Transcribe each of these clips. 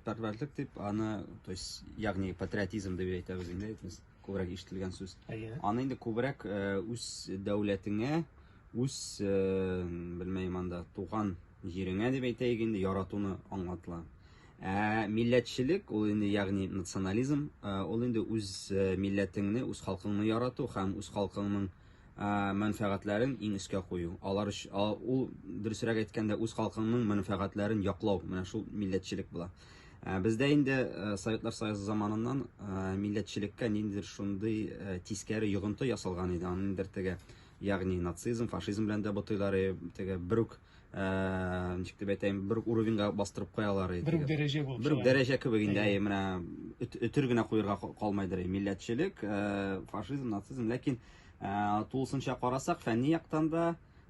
Пәрвәрлек дип аны, то есть, ягъни патриотизм дип әйтәбез инде, без күбрәк ишетелгән сүз. Әйе. Аны инде күбрәк э, үз дәүләтеңә, үз э, белмәем анда туган җиреңә дип әйтәйек инде яратуны аңлатыла. Ә милләтчелек ул инде ягъни национализм, э, ул инде үз э, милләтеңне, үз халкыңны ярату һәм үз халкыңның мәнфәгатьләрен иң өскә кую, алар ул дөресрәк әйткәндә үз халкыңның мәнфәгатьләрен яклау, менә шул милләтчелек була. Бездә инде Советлар Союзы заманыннан милләтчелеккә ниндидер шундый тискәре йогынты ясалган иде, аны ниндидер теге, ягъни нацизм, фашизм белән дә бутыйлар, теге берүк ә, ничек дип әйтәйем, бер үк уровеньга бастырып куялар иде. Бер үк дәрәҗә булып. Бер үк дәрәҗә кебек инде, әйе, менә өтер генә куерга калмайдыр, милләтчелек, ә, фашизм, нацизм, ләкин ә, тулысынча карасак, фәнни яктан да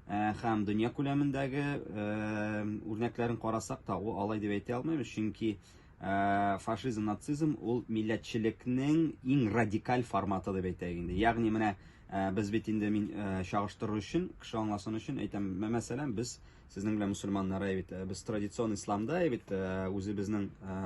ә, һәм дөнья күләмендәге ә, үрнәкләрен карасак та, ул алай дип әйтә алмыйм, чөнки ә, фашизм, нацизм ул милләтчелекнең иң радикаль форматы дип әйтәйек инде. Ягъни менә ә, Ә, без бит инде мин ә, чагыштыру өчен, кеше аңласын өчен әйтәм, мә- мәсәлән, без сезнең белән мусульманнар ә бит, ә, без традицион исламда ә бит, ә, үзебезнең ә,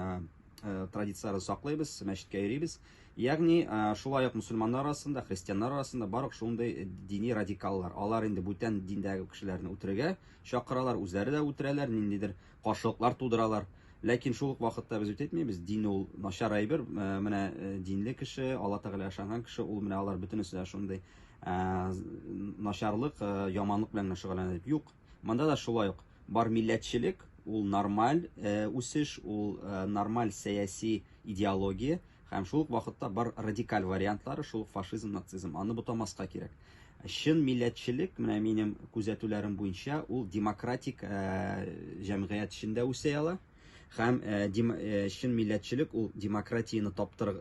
ә, традицияләрне саклыйбыз, мәчеткә йөрибез. Ягъни, ә, шулай ук мусульманнар арасында, христианнар арасында бар ук шундый дини радикаллар. Алар инде бүтән диндәге кешеләрне үтерергә чакыралар, үзләре дә үтерәләр, ниндидер каршылыклар тудыралар. Ләкин шул ук вакытта без үтетмибез, дин ул начар әйбер, менә динле кеше, Алла Тәгаләгә ышанган кеше, ул менә алар бөтенесе дә шундый начарлык, яманлык белән генә шөгыльләнә дип. Юк, монда да шулай ук бар милләтчелек, ул нормаль үсеш, ул нормаль сәяси идеология. Һәм шул ук вакытта бар радикаль вариантлары шул ук фашизм, нацизм. Аны бутамаска кирәк. Чын милләтчелек, менә минем күзәтүләрем буенча, ул демократик э, җәмгыять эчендә үсә ала. Һәм э, э, чын милләтчелек ул демократияне таптыр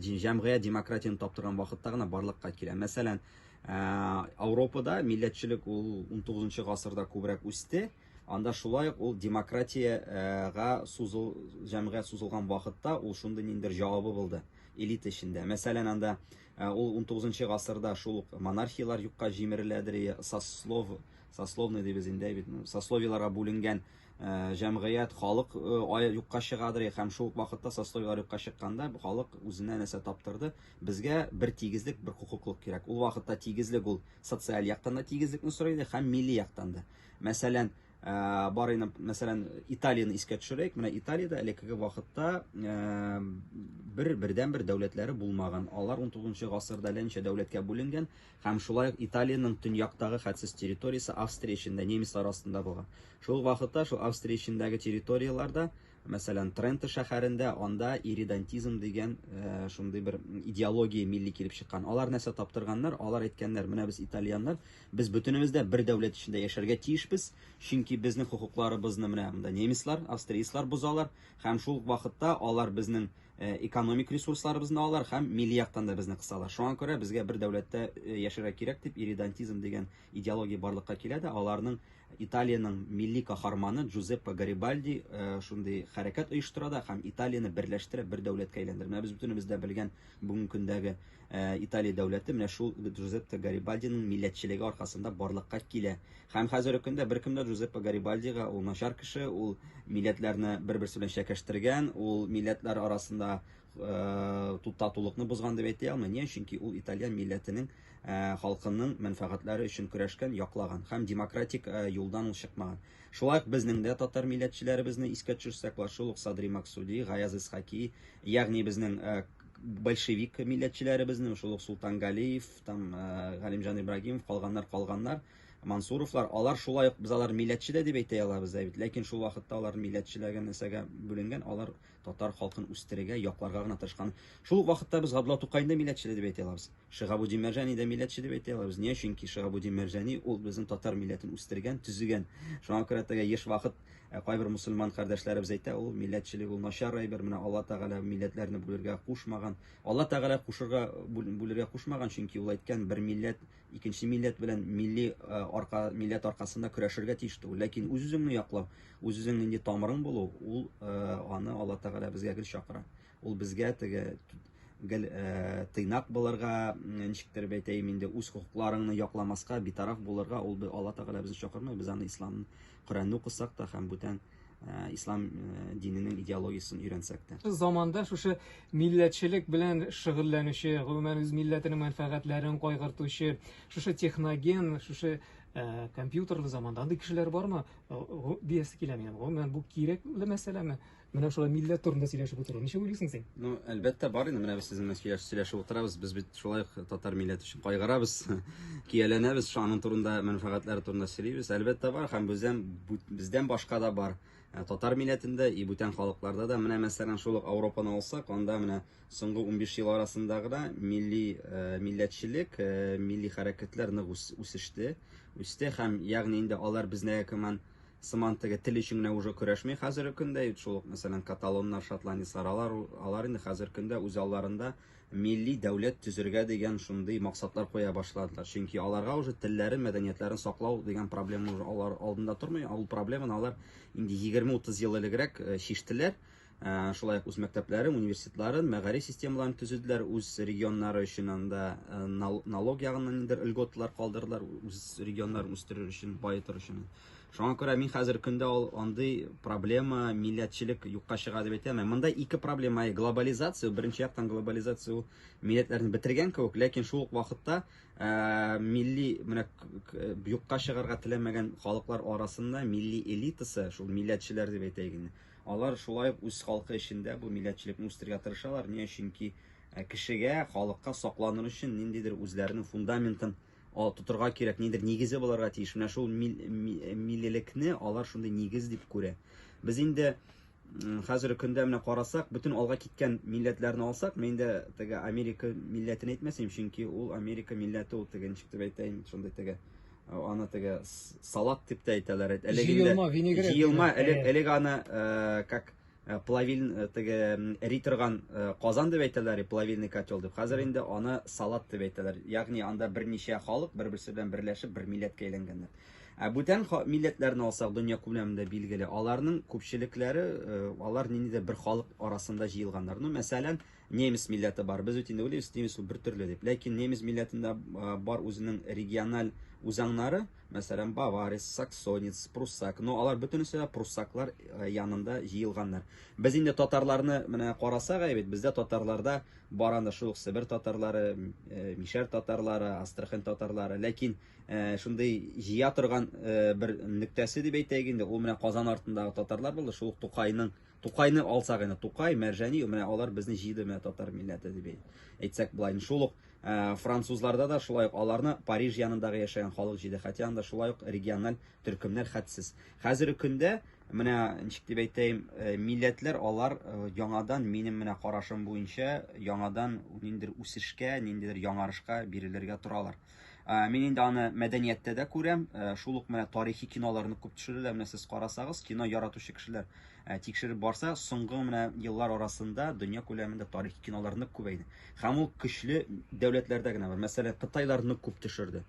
җәмгыять демократияне таптырган вакытта гына барлыкка килә. Мәсәлән, Ауропада милләтчелек ул 19 гасырда күбрәк үсте. Анда шулай ук ул демократия га сузыл, җәмгыять сузылган вакытта ул шундый ниндидер җавабы булды элита эчендә. Мәсәлән, анда ул унтугызынчы гасырда шул ук монархияләр юкка җимереләдер, сослов, сословный дибез инде, бит, сословиеларга бүленгән җәмгыять, халык юкка чыгадыр, һәм шул ук вакытта сословиеләр юкка чыкканда халык үзенә нәрсә таптырды, безгә бер тигезлек, бер хокуклык кирәк. Ул вакытта тигезлек ул социаль яктан да тигезлекне сорый иде һәм милли яктан да. Мәсәлән, бар инде, мәсәлән, Италияне искә төшерәйек. Менә Италиядә элеккеге вакытта бер бердән бер дәүләтләре булмаган. Алар 19 гасырда әллә дәүләткә бүленгән һәм шулай ук Италиянең төньяктагы хәтсез территориясе Австрия эчендә немецлар астында булган. Шул вакытта шул Австрия эчендәге территорияләрдә Мәсәлән, Тренто шәһәрендә анда иридантизм дигән шундый бер идеология милли килеп чыккан. Алар нәрсә таптырганнар? Алар әйткәннәр, менә без итальяннар, без бөтенебез дә бер дәүләт эчендә яшәргә тиешбез, чөнки безнең хокукларыбызны менә монда немецлар, австрияцлар бозалар һәм шул ук вакытта алар безнең экономик ресурсларыбызны алалар һәм милли яктан да безне кысалар. Шуңа күрә безгә бер дәүләттә яшәргә кирәк дип иридантизм дигән Идеология барлыкка килә дә, аларның Италиянең милли каһарманы Джузеппе Гарибальди шундый хәрәкәт оештыра да һәм Италияне берләштерә, бер дәүләткә әйләндерә. Менә без бөтенебез дә белгән бүгенге көндәге Италия дәүләте менә шул Джузеппе Гарибальдиның милләтчелеге аркасында барлыкка килә. Һәм хәзерге көндә беркем дә Джузеппе Гарибальдига ул начар кеше, ул милләтләрне бер-берсе белән чәкәштергән, ул милләтләр арасында туктатулыкны бозган дип әйтә алмый. Ни өчен? Чөнки ул итальян милләтенең халкының мәнфәгатьләре өчен көрәшкән, яклаган һәм демократик юлдан ул чыкмаган. Шулай ук безнең дә татар милләтчеләребезне искә төшерсәк, ла шул ук Садри Максуди, Гаяз Исхаки, ягъни безнең большевик милләтчеләребезне, шул ук Султан Галиев, там Галимҗан Ибрагимов, калганнар, калганнар, Мансуровлар, алар шулай ук без алар милләтче дә дип әйтә алабыз да бит, ләкин шул вакытта алар милләтчеләгән нәрсәгә бүленгән, алар Татар халкын үстерергә, якларга гына тырышкан. Шул ук вакытта без Габдулла Тукайны да милләтчеле дип әйтә алабыз. Шиһабуддин Мәрҗани дә милләтче дип әйтә алабыз. Ния? Чөнки Шиһабуддин Мәрҗани ул безнең татар милләтен үстергән, төзегән. Шуңа күрә теге еш вакыт кайбер мусульман кардәшләребез әйтә, ул милләтчелек ул начар әйбер, менә Алла Тәгалә милләтләрне бүлергә кушмаган. Алла Тәгалә кушырга, бүлергә кушмаган, чөнки ул әйткән, бер милләт, икенче милләт белән милли э, арка милләт аркасында көрәшергә тиеш түгел ләкин үз үзеңне яклау үз үзең нинди тамырың булу ул э, аны алла тәгалә безгә гел чакыра ул безгә теге гел э, тыйнак булырга ничектер әйтәем инде үз хокукларыңны якламаска битараф булырга ул алла тәгалә безне чакырмый без аны исламны коръәнне укысак та һәм бүтән Э, ислам э, диненең идеологиясен өйрәнсәк тә заманда шушы милләтчелек белән шөгыльләнүче гомумән үз милләтенең мәнфәгатьләрен кайгыртучы шушы техноген шушы э, компьютерлы заманда андый кешеләр бармы диясе килә минем гомумән бу кирәкле мәсьәләме менә шулай милләт турында сөйләшеп утыру ничек уйлыйсың син ну әлбәттә бар инде менә без сез белән сөйләшеп утырабыз без бит Шулай ук татар милләте өчен кайгырабыз, кияләнәбез, шу аның турында мәнфәгатьләре турында сөйлибез. Әлбәттә бар һәм бездән бездән башка да бар. Ә, татар милләтендә и бүтән халыкларда да менә мәсәлән шул ук Европаны алсак, анда менә соңгы 15 ел арасында гына милли ә, милләтчелек, ә, милли хәрәкәтләр нык үсеште, үсте һәм ягъни инде алар безнең команд сыман теге тел өчен генә уже көрәшми хәзерге көндә шул ук мәсәлән каталоннар шотландецлар алар алар инде хәзерге көндә үз алларында милли дәүләт төзергә дигән шундый максатлар куя башладылар. Чөнки аларга уже телләрен, мәдәниятләрен саклау дигән проблема уже алар алдында тормый. Ул проблеманы алар инде 20-30 ел элегрәк э, чиштеләр. Э, шулай ук үз мәктәпләрен, университетларын, мәгариф системаларын төзеделәр, үз регионнары өчен анда э, налог ягыннан ниндер льготалар калдырдылар, үз регионнарын үстерер өчен, баетыр өчен. Шуңа күрә мин хәзер көндә ул андый проблема, милләтчелек юкка чыга дип әйтә алмыйм. Монда ике проблема, глобализация, беренче яктан глобализация ул милләтләрне бетергән кебек, ләкин шул ук вакытта ә, милли менә юкка чыгарга теләмәгән халыклар арасында милли элитасы, шул милләтчеләр дип әйтәйек инде. Алар шулай ук үз халкы эчендә бу милләтчелекне үстерергә тырышалар. Ни өченки кешегә, халыкка сакланыр өчен ниндидер үзләренең фундаментын Ал, тотырга кирәк, нидер нигезе буларга тиеш. Менә шул мил, ми, милелекне алар шундый нигез дип күрә. Без инде хәзерге көндә менә карасак, бөтен алга киткән милләтләрне алсак, мин дә теге Америка милләтен әйтмәсем, чөнки ул Америка милләте ул теге ничек дип әйтәйен, шундый теге аны теге салат дип тә әйтәләр. Әлеге җыелма винегрет. Җыелма, элек элек аны э, как Э, плавиль э, теге эри торган э, казан дип әйтәләр плавильный котел дип хәзер инде аны салат дип әйтәләр ягъни анда берничә халык бер берсе белән берләшеп бер милләткә әйләнгәннәр ә бүтән милләтләрне алсак дөнья күләмендә билгеле аларның күпчелекләре алар ниндидер бер халык арасында җыелганнар ну мәсәлән немец милләте бар без бит инде уйлыйбыз немец бер төрле дип ләкин немец милләтендә бар үзенең региональ үзаңнары Мәсәлән, баварец, саксонец, пруссак. Но алар бөтенесе дә пруссаклар э, янында җыелганнар. Без инде татарларны менә карасак әйбит, бездә татарларда бар анда шул Себер татарлары, э, Мишәр татарлары, Астрахань татарлары. Ләкин э, шундый җыя торган бер нөктәсе дип әйтәйек инде, ул менә Казан артындагы татарлар булды, шул Тукайның Тукайны алсак инде, Тукай, Мәрҗани, менә алар безне җыйды, менә татар милләте дип әйтсәк болай. Шул ук э, французларда да шулай ук аларны Париж янындагы яшәгән халык җыйды, хотя анда шулай ук региональ төркемнәр хәтсез. Хәзерге көндә менә ничек дип әйтәйем, э, милләтләр алар э, яңадан минем менә карашым буенча яңадан ниндидер үсешкә, ниндидер яңарышка бирелергә торалар. Ә, мин инде аны мәдәнияттә дә күрәм, ә, шул ук менә тарихи киноларны күп төшерәләр, менә сез карасагыз, кино яратучы кешеләр ә, тикшереп барса, соңгы менә еллар арасында дөнья күләмендә тарихи кинолар нык күбәйде. Һәм ул көчле дәүләтләрдә генә бар. Мәсәлән, Кытайлар нык күп төшерде.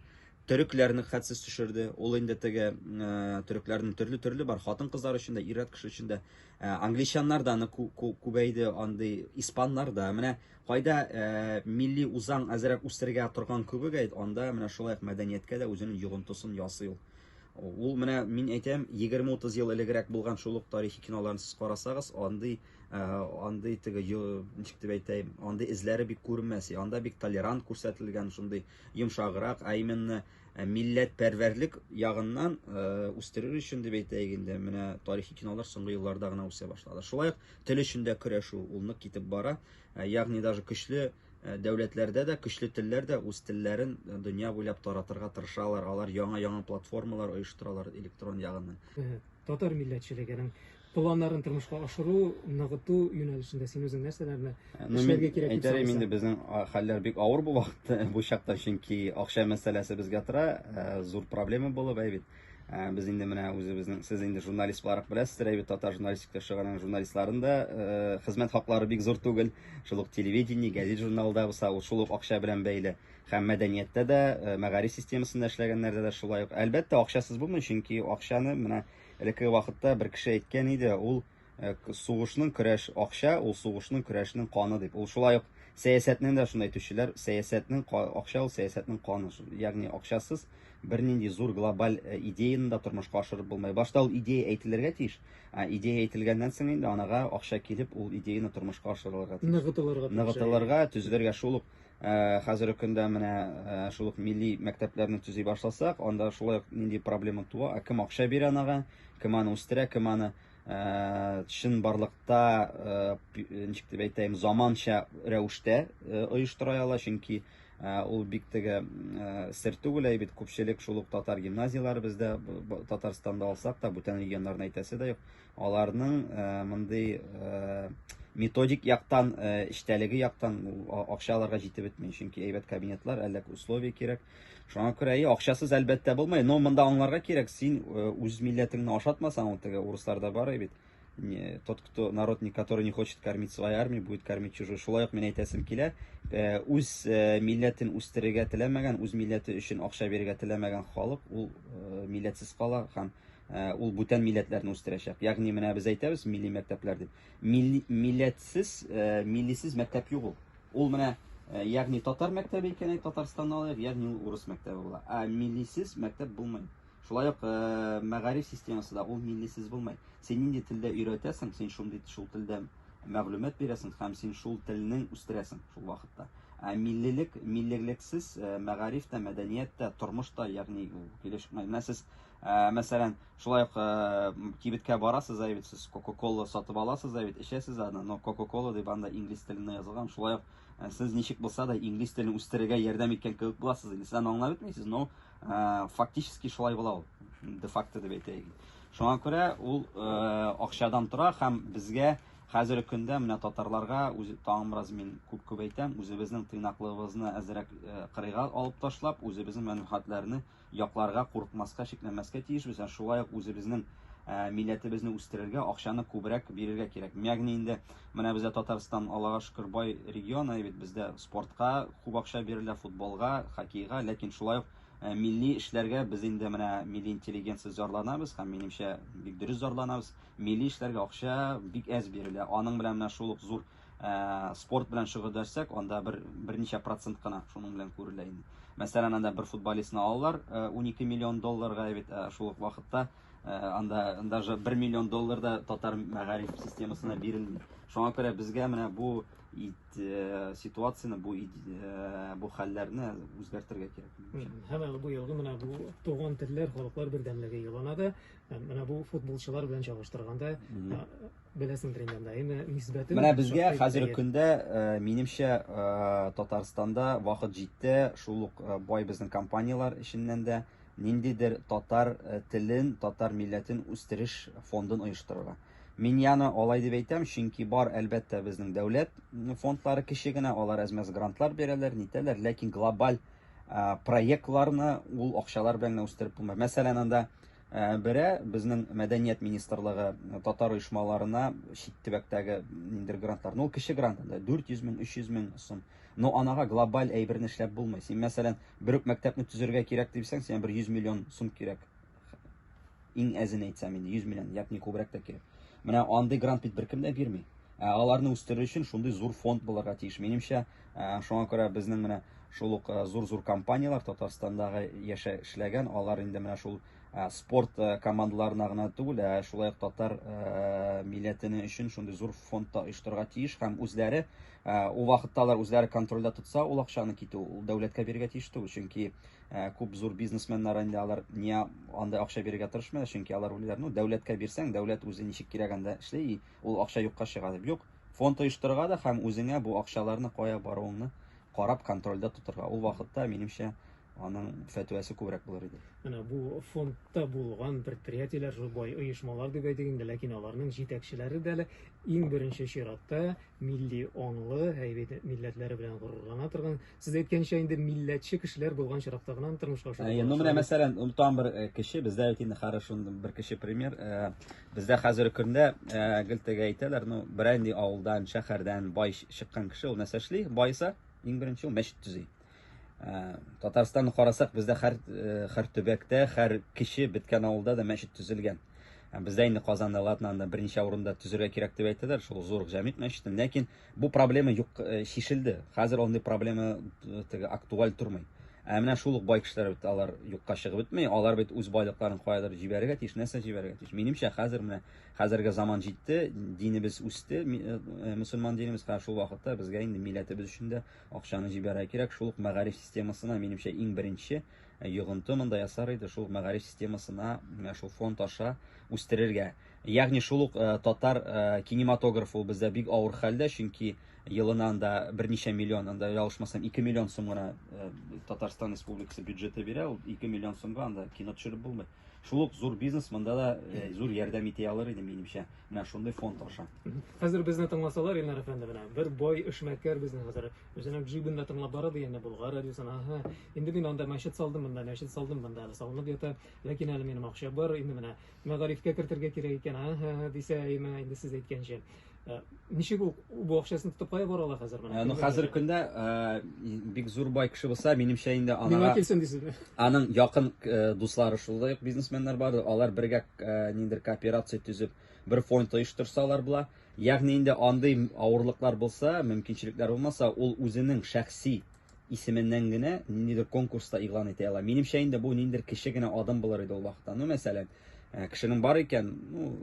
Төрекләр нык хәтсез төшерде. Ул инде теге ә, төрекләрнең төрле-төрле бар, хатын-кызлар өчен дә, ир-ат кеше өчен дә. Ә, англичаннар да нык кү- кү- күбәйде, андый испаннар да. Менә Кайда милли узаң әзерәк үстерергә торган кебек әйт, анда менә шулай ук мәдәнияткә дә үзенең йогынтысын ясый ул. Ул менә мин әйтәм, 20-30 ел элегрәк булган шул ук тарихи киноларны сез карасагыз, андый андый теге ничек дип әйтәем, андый эзләре бик күренмәс. Анда бик толерант күрсәтелгән, шундый йомшаграк, ә именно милләт пәрвәрлек ягыннан үстерер өчен дип әйтәйек инде, менә тарихи кинолар соңгы елларда гына үсә башлады. Шулай ук Тел өчен дә көрәшү ул нык китеп бара. Ягъни даже көчле дәүләтләрдә дә, көчле телләр дә үз телләрен дөнья буйлап таратырга тырышалар. Алар яңа-яңа платформалар оештыралар электрон ягыннан. Татар милләтчелегенең планнарын тормышка ашыру, ныгыту юнәлешендә син үзең нәрсәләрне эшләргә кирәк дип саныйсың? Инде безнең хәлләр бик авыр бу вакытта, бу чакта, чөнки акча мәсьәләсе безгә тора, зур проблема булып, әй бит. Ә, без инде менә үзебезнең сез инде журналист буларак беләсез рәйбит татар журналистика шыгырының журналистларын да ә, хезмәт хаклары бик зур түгел шул ук телевидение газет журналда булса ул шул ук акча белән бәйле һәм мәдәнияттә дә ә, мәгариф системасында эшләгәннәрдә дә шулай ук әлбәттә акчасыз булмый чөнки акчаны менә элеккеге вакытта бер кеше әйткән иде ул Э, сугышның көрәш акча ул сугышның көрәшнең каны дип ул шулай ук сәясәтне дә шунда әйтүчеләр сәясәтнең акча ул сәясәтнең каны ягъни акчасыз бернинди зур глобаль э, идеяны да тормышка ашырып булмый башта ул идея әйтелергә тиеш ә идея әйтелгәннән соң инде анага акча килеп ул идеяны тормышка ашырылырга тиеш ныгытылырга ныгытылырга төзелергә шул ук э, хәзерге көндә менә шул ук милли мәктәпләрне төзи башласак анда шулай ук нинди проблема туа ә кем акча бирә анага кем аны үстерә кем аны чынбарлыкта ничек дип әйтәем заманча рәвештә оештыра ала чөнки ул бик теге сер түгел әйбит күпчелек шул ук татар гимназияләре бездә татарстанда алсак та бүтән регионнарны әйтәсе дә юк аларның мондый методик яктан эчтәлеге яктан акча аларга җитеп бетми чөнки әйбәт кабинетлар әллә условия кирәк Шуңа күрә и акчасыз әлбәттә булмый, но монда аңларга кирәк, син э, үз милләтеңне ашатмасаң, ул теге урысларда бар бит. Тот, кто народ, который не хочет кормить свою армию, будет кормить чужую. Шулай ук мин әйтәсем килә, э, үз э, милләтен үстерергә теләмәгән, үз милләте өчен акча бирергә теләмәгән халык, ул милләтсез кала һәм ул бүтән милләтләрне үстерәчәк. Ягъни менә без әйтәбез милли мәктәпләр дип. Милли, милләтсез, э, миллисез мәктәп юк ул. Ул менә, э, ягъни татар мәктәбе икән, әй, Татарстанны алыйк, ягъни ул урыс мәктәбе була. Ә миллисез мәктәп булмый. Шулай ук э, мәгариф системасы да ул миллисез булмый. Син нинди телдә өйрәтәсең, син шундый шул телдә мәгълүмат бирәсең һәм син шул телнең үстерәсең шул вакытта. Ә миллилек, миллилексез э, мәгариф тә, мәдәният тә, тормыш та, ягъни ул килешмәй. Менә сез, э, мәсәлән, Шулай ук кибеткә барасыз да бит сез Кока-кола сатып аласыз да бит, эчәсез аны, но Кока-кола дип анда инглиз телендә язылган. Шулай ук сез ничек булса да инглиз телен үстерергә ярдәм иткән кебек буласыз. Инде сез аны аңлап бетмисез, но фактически шулай була ул. Де-факто дип әйтәйек. Шуңа күрә ул акчадан тора һәм безгә хәзерге көндә менә татарларга үзе тагын бераз мин күп күп әйтәм, үзебезнең тыйнаклыгыбызны әзрәк кырыйга алып ташлап, үзебезнең мәнфәгатьләрне Якларга, курыкмаска, шикләнмәскә тиешбез, ә шулай ук үзебезнең милләтебезне үстерергә акчаны күбрәк бирергә кирәк. Ягъни инде менә бездә Татарстан, Аллага шөкер, бай регион, әйе бит, бездә спортка күп акча бирелә, футболга, хоккейга, ләкин шулай ук милли эшләргә без инде менә милли интеллигенция зарланабыз һәм минемчә бик дөрес зарланабыз. Милли эшләргә акча бик әз бирелә. Аның белән менә шул ук зур Ә, спорт белән шөгыльләшсәк, анда бер берничә процент кына шуның белән күрелә инде. Мәсәлән, анда бер футболистны алалар 12 э, миллион долларга, бит э, шул ук вакытта э, анда даже 1 миллион доллар да татар мәгариф системасына бирелми. Шуңа күрә безгә менә бу ситуацияне, бу бу хәлләрне үзгәртергә кирәк. Һәм бу елгы менә бу туган телләр, халыклар бердәмлеге елына да Менә бу футболчылар белән чагыштырганда, беләсеңдер инде анда, әйме нисбәтен. Менә безгә хәзер көндә, минемчә, Татарстанда вакыт җитте, шул ук бай безнең компанияләр эченнән дә ниндидер татар телен, татар милләтен үстереш фондын оештырырга. Мин яны алай дип әйтәм, чөнки бар, әлбәттә, безнең дәүләт фондлары кече генә, алар әзмәс грантлар бирәләр, нитәләр, ләкин глобаль проектларны ул акчалар белән генә үстереп булмый. Мәсәлән, анда Бере, безнең мәдәният министрлыгы татар оешмаларына чит төбәктәге ниндидер грантлар, ну, кече грант, 400 мең, 300 мең сум. Но анага глобаль әйберне эшләп булмый. Син, мәсәлән, бер үк мәктәпне төзергә кирәк дисәң, сиңа бер 100 миллион сум кирәк. Иң әзен әйтсәм инде, 100 миллион, ягъни күбрәк тә кирәк. Менә андый грант бит беркем дә бирми. Ә аларны үстерер өчен шундый зур фонд булырга тиеш. Минемчә, Ә, шуңа күрә безнең менә шул ук ә, зур-зур компанияләр Татарстандагы яшә эшләгән, алар инде менә шул ә, спорт ә, командаларына гына түгел, ә шулай ук татар ә, милләтене өчен шундый зур фонд та оештырырга тиеш һәм үзләре ә, ул вакытта алар үзләре контрольдә тотса, ул акчаны китү ул дәүләткә бирергә тиеш түгел, чөнки ә, күп зур бизнесменнар инде алар ни анда акча бирергә тырышмыйлар, чөнки алар уйлыйлар, ну дәүләткә бирсәң, дәүләт үзе ничек кирәгәндә эшли, ул акча юкка чыга дип. Юк, Фонд оештырырга да һәм үзеңә бу акчаларны кая баруыңны карап контрольдә тотырга. Ул вакытта, минемчә, аның фәтвәсе күбрәк булыр иде. Менә бу фондта булган предприятиеләр, шул бай оешмалар дип әйтик инде, ләкин аларның җитәкчеләре дә әле иң беренче чиратта милли аңлы, әйбәт милләтләре белән горурлана торган Сез әйткәнчә инде милләтче кешеләр булган чиракта гына тормышка ашырып. Әйе, ну менә мәсәлән, онтам бер э, кеше, бездә бит инде хорошо бер кеше пример. Э, бездә хәзер көндә э, гел теге әйтәләр, ну берәнди авылдан, шәһәрдән бай чыккан кеше ул нәрсә эшли? Байса, иң беренче ул мәчет төзи. Татарстанны карасак, бездә һәр һәр төбәктә, һәр кеше беткән авылда да мәчет төзелгән. Бездә инде Казанда, Латнанда берничә урында төзергә кирәк дип әйтәләр, шул зур җәмигъ мәчетен, ләкин Бу проблема юк э, чишелде. Хәзер андый проблема э, теге актуаль тормый. Ә менә шул ук бай кешеләр бит алар юкка чыгып бетми. Алар бит үз байлыкларын каядыр җибәрергә тиеш, нәрсә җибәрергә тиеш. Минемчә, хәзер менә хәзерге заман җитте, динебез үсте, э, э, мусульман динебез, хәзер шул вакытта безгә инде милләтебез өчен дә акчаны җибәрергә кирәк. Шул ук мәгариф системасына минемчә иң беренче э, йогынты монда ясар иде, шул мәгариф системасына, менә шул фонд аша үстерергә. Ягъни шул ук э, татар э, кинематографы бездә бик авыр хәлдә, чөнки елына анда берничә миллион, анда ялгышмасам 2 миллион сум гына э, Татарстан Республикасы бюджеты бирә, ул 2 миллион сумга анда кино төшереп булмый. Шул ук зур бизнес монда да зур ярдәм итә алыр иде минемчә, менә шундый фонд аша. Хәзер безне тыңласалар, Ильнар әфәнде менә, бер бай эшмәкәр безне хәзер, үзенең джибында тыңлап бара дигәндә Болгар радиосын, аһа, инде мин анда мәчет салдым монда, мәчет салдым монда, салынып ята, ләкин әле минем акча бар, инде менә мәгарифкә кертергә кирәк икән, һә-һә-һә дисә, әйме, инде сез әйткәнчә. Э, ничек ул бу акчасын тотып кая бара ала хәзер менә? Э, ну, хәзер көндә э, бик зур бай кеше булса, минемчә инде ана. Миңа килсен дисезме? Аның якын дуслары шулай ук бизнесменнар бар, алар бергә ниндер кооперация төзеп, бер фонд оештырсалар була. Ягъни инде андый авырлыклар булса, мөмкинчелекләр булмаса, ул үзенең шәхси исеменнән генә ниндидер конкурста игълан итә ала. Минемчә инде бу ниндидер кеше генә адым булыр иде ул вакытта. Ну, мәсәлән, э, кешенең бар икән, ну,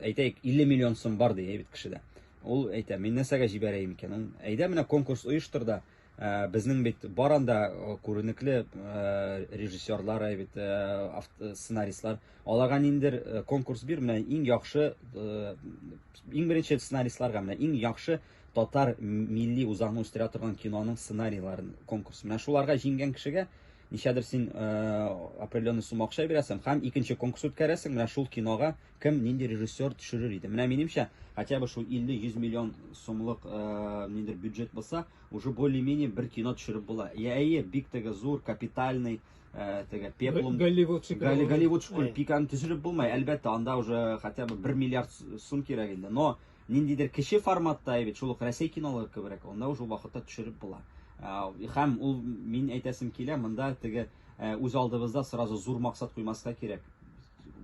әйтәйек, 50 миллион сум бар дия бит кешедә. Ул әйтә, мин нәрсәгә җибәрәем икән? Ул әйдә менә конкурс оештыр да, э, безнең бит бар анда э, күренекле режиссерлар, әйбит сценаристлар. Аларга ниндидер конкурс бир, менә иң яхшы иң беренче сценаристларга менә иң яхшы Татар милли үзаңын үстерә торган киноның сценарийларын конкурс. Менә шуларга җиңгән кешегә ничәдер син определенный сумма акча бирәсең һәм икенче конкурс үткәрәсең. Менә шул кинога кем нинди режиссер төшерер иде. Менә минемчә, хотя бы шул 50-100 миллион сумлык ниндер бюджет булса, уже более-менее бер кино төшереп була. Я әйе, бик теге зур, капитальный теге пеплум Голливуд шикелле. Голливуд шикелле пиканы төшереп булмый. Әлбәттә, анда уже хотя бы 1 миллиард сум кирәк инде. Но Ниндидер кече форматта, әйбит, шул ук Рәсәй кинолары кеберәк, анда уже вакытта төшереп була. Хәм ул мин әйтәсем килә, монда теге үз алдыбызда сразу зур максат куймаска кирәк.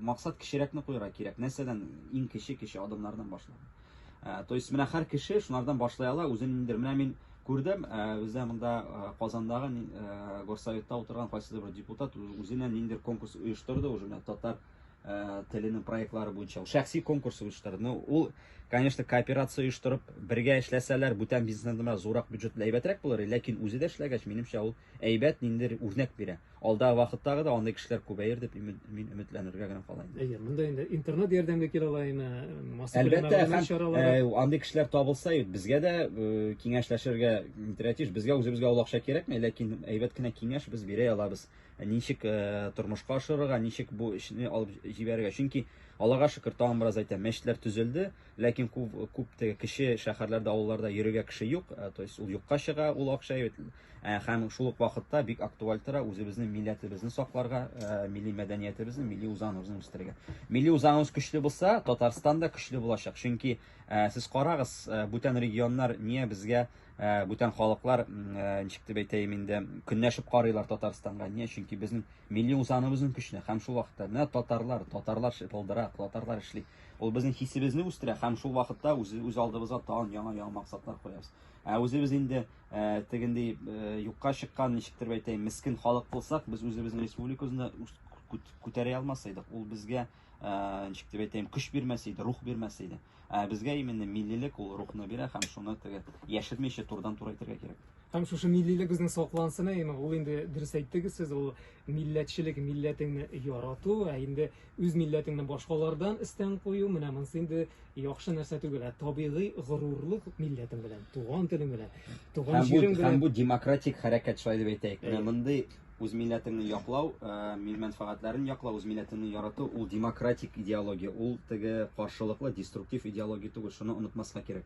Максат кечерәкне куйырга кирәк. Нәрсәдән иң кече кече адымнардан башлау. То есть менә һәр кеше шунардан башлый ала, үзен ниндидер менә мин күрдем, бездә монда Казандагы горсоветта утырган кайсыдыр бер депутат үзенә ниндидер конкурс оештырды, уже менә татар теленең проектлары буенча ул шәхси конкурс оештырды. Ну, ул, конечно, кооперация оештырып, бергә эшләсәләр, бүтән бизнестан гына зурак бюджетлы әйбәтрәк булыр, ләкин үзе дә эшләгәч, минемчә, ул әйбәт ниндидер үрнәк бирә. Алдагы вакыттагы да андый кешеләр күбәер дип мин өметләнергә генә кала инде. Әйе, монда инде интернет ярдәмгә килә ала име, массакүләм Әлбәттә, мәгълүмат һәм, чаралары. э, андый кешеләр табылса, юк, безгә дә э, киңәшләшергә интерактив, безгә үзебезгә ул акча кирәкми, ләкин әйбәт кенә киңәш без бирә алабыз. ничек э, тормышка ашырырга, ничек бу эшне алып җибәрергә. Чөнки Аллага шөкер, тагын бераз әйтәм, мәчетләр төзелде, ләкин күп, күп теге кеше шәһәрләрдә, авылларда йөрергә кеше юк, э, то есть ул юкка чыга, ул акча э, һәм шул ук вакытта бик актуаль тора үзебезнең милләтебезне сакларга, милли мәдәниятебезне, милли үзаңыбызны үстерергә. Милли үзаңыбыз көчле булса, Татарстан да көчле булачак. Чөнки сез карагыз, бүтән регионнар не безгә ә, бүтән халыклар, ә, ничек дип әйтәем инде, көнләшеп карыйлар Татарстанга. Ни өчен? Чөнки безнең милли үзаңыбызның көченә һәм шул вакытта менә татарлар, татарлар шыпылдыра, татарлар эшли. Ул безнең хисебезне үстерә һәм шул вакытта үз, үз алдыбызга тагын яңа-яңа максатлар куябыз. Ә үзебез инде ә, тегендей ә, юкка чыккан, ничек дип әйтәем, мискен халык булсак, без үзебезнең республикабызны күтәрә алмас идек. Ул безгә ә, ничек дип әйтәйем, көч бирмәс иде, рух бирмәс иде. Ә безгә именно миллилек ул рухны бирә һәм шуны теге яшермичә турдан тура әйтергә кирәк. Һәм шушы миллилек безнең саклансын, ә имам, ул инде дөрес әйттегез сез, ул милләтчелек, милләтеңне ярату, ә инде үз милләтеңне башкалардан өстен кую, менә монысы инде яхшы нәрсә түгел, ә табигый горурлык милләтең белән, туган телең белән, туган җирең белән. Һәм бу демократик хәрәкәт шулай дип әйтәйек. Менә мондый Үз милләтеңне яклау, мил мәнфәгатьләрен яклау, үз милләтеңне ярату, ул демократик идеология, ул теге каршылыклы, деструктив идеология түгел, шуны онытмаска кирәк.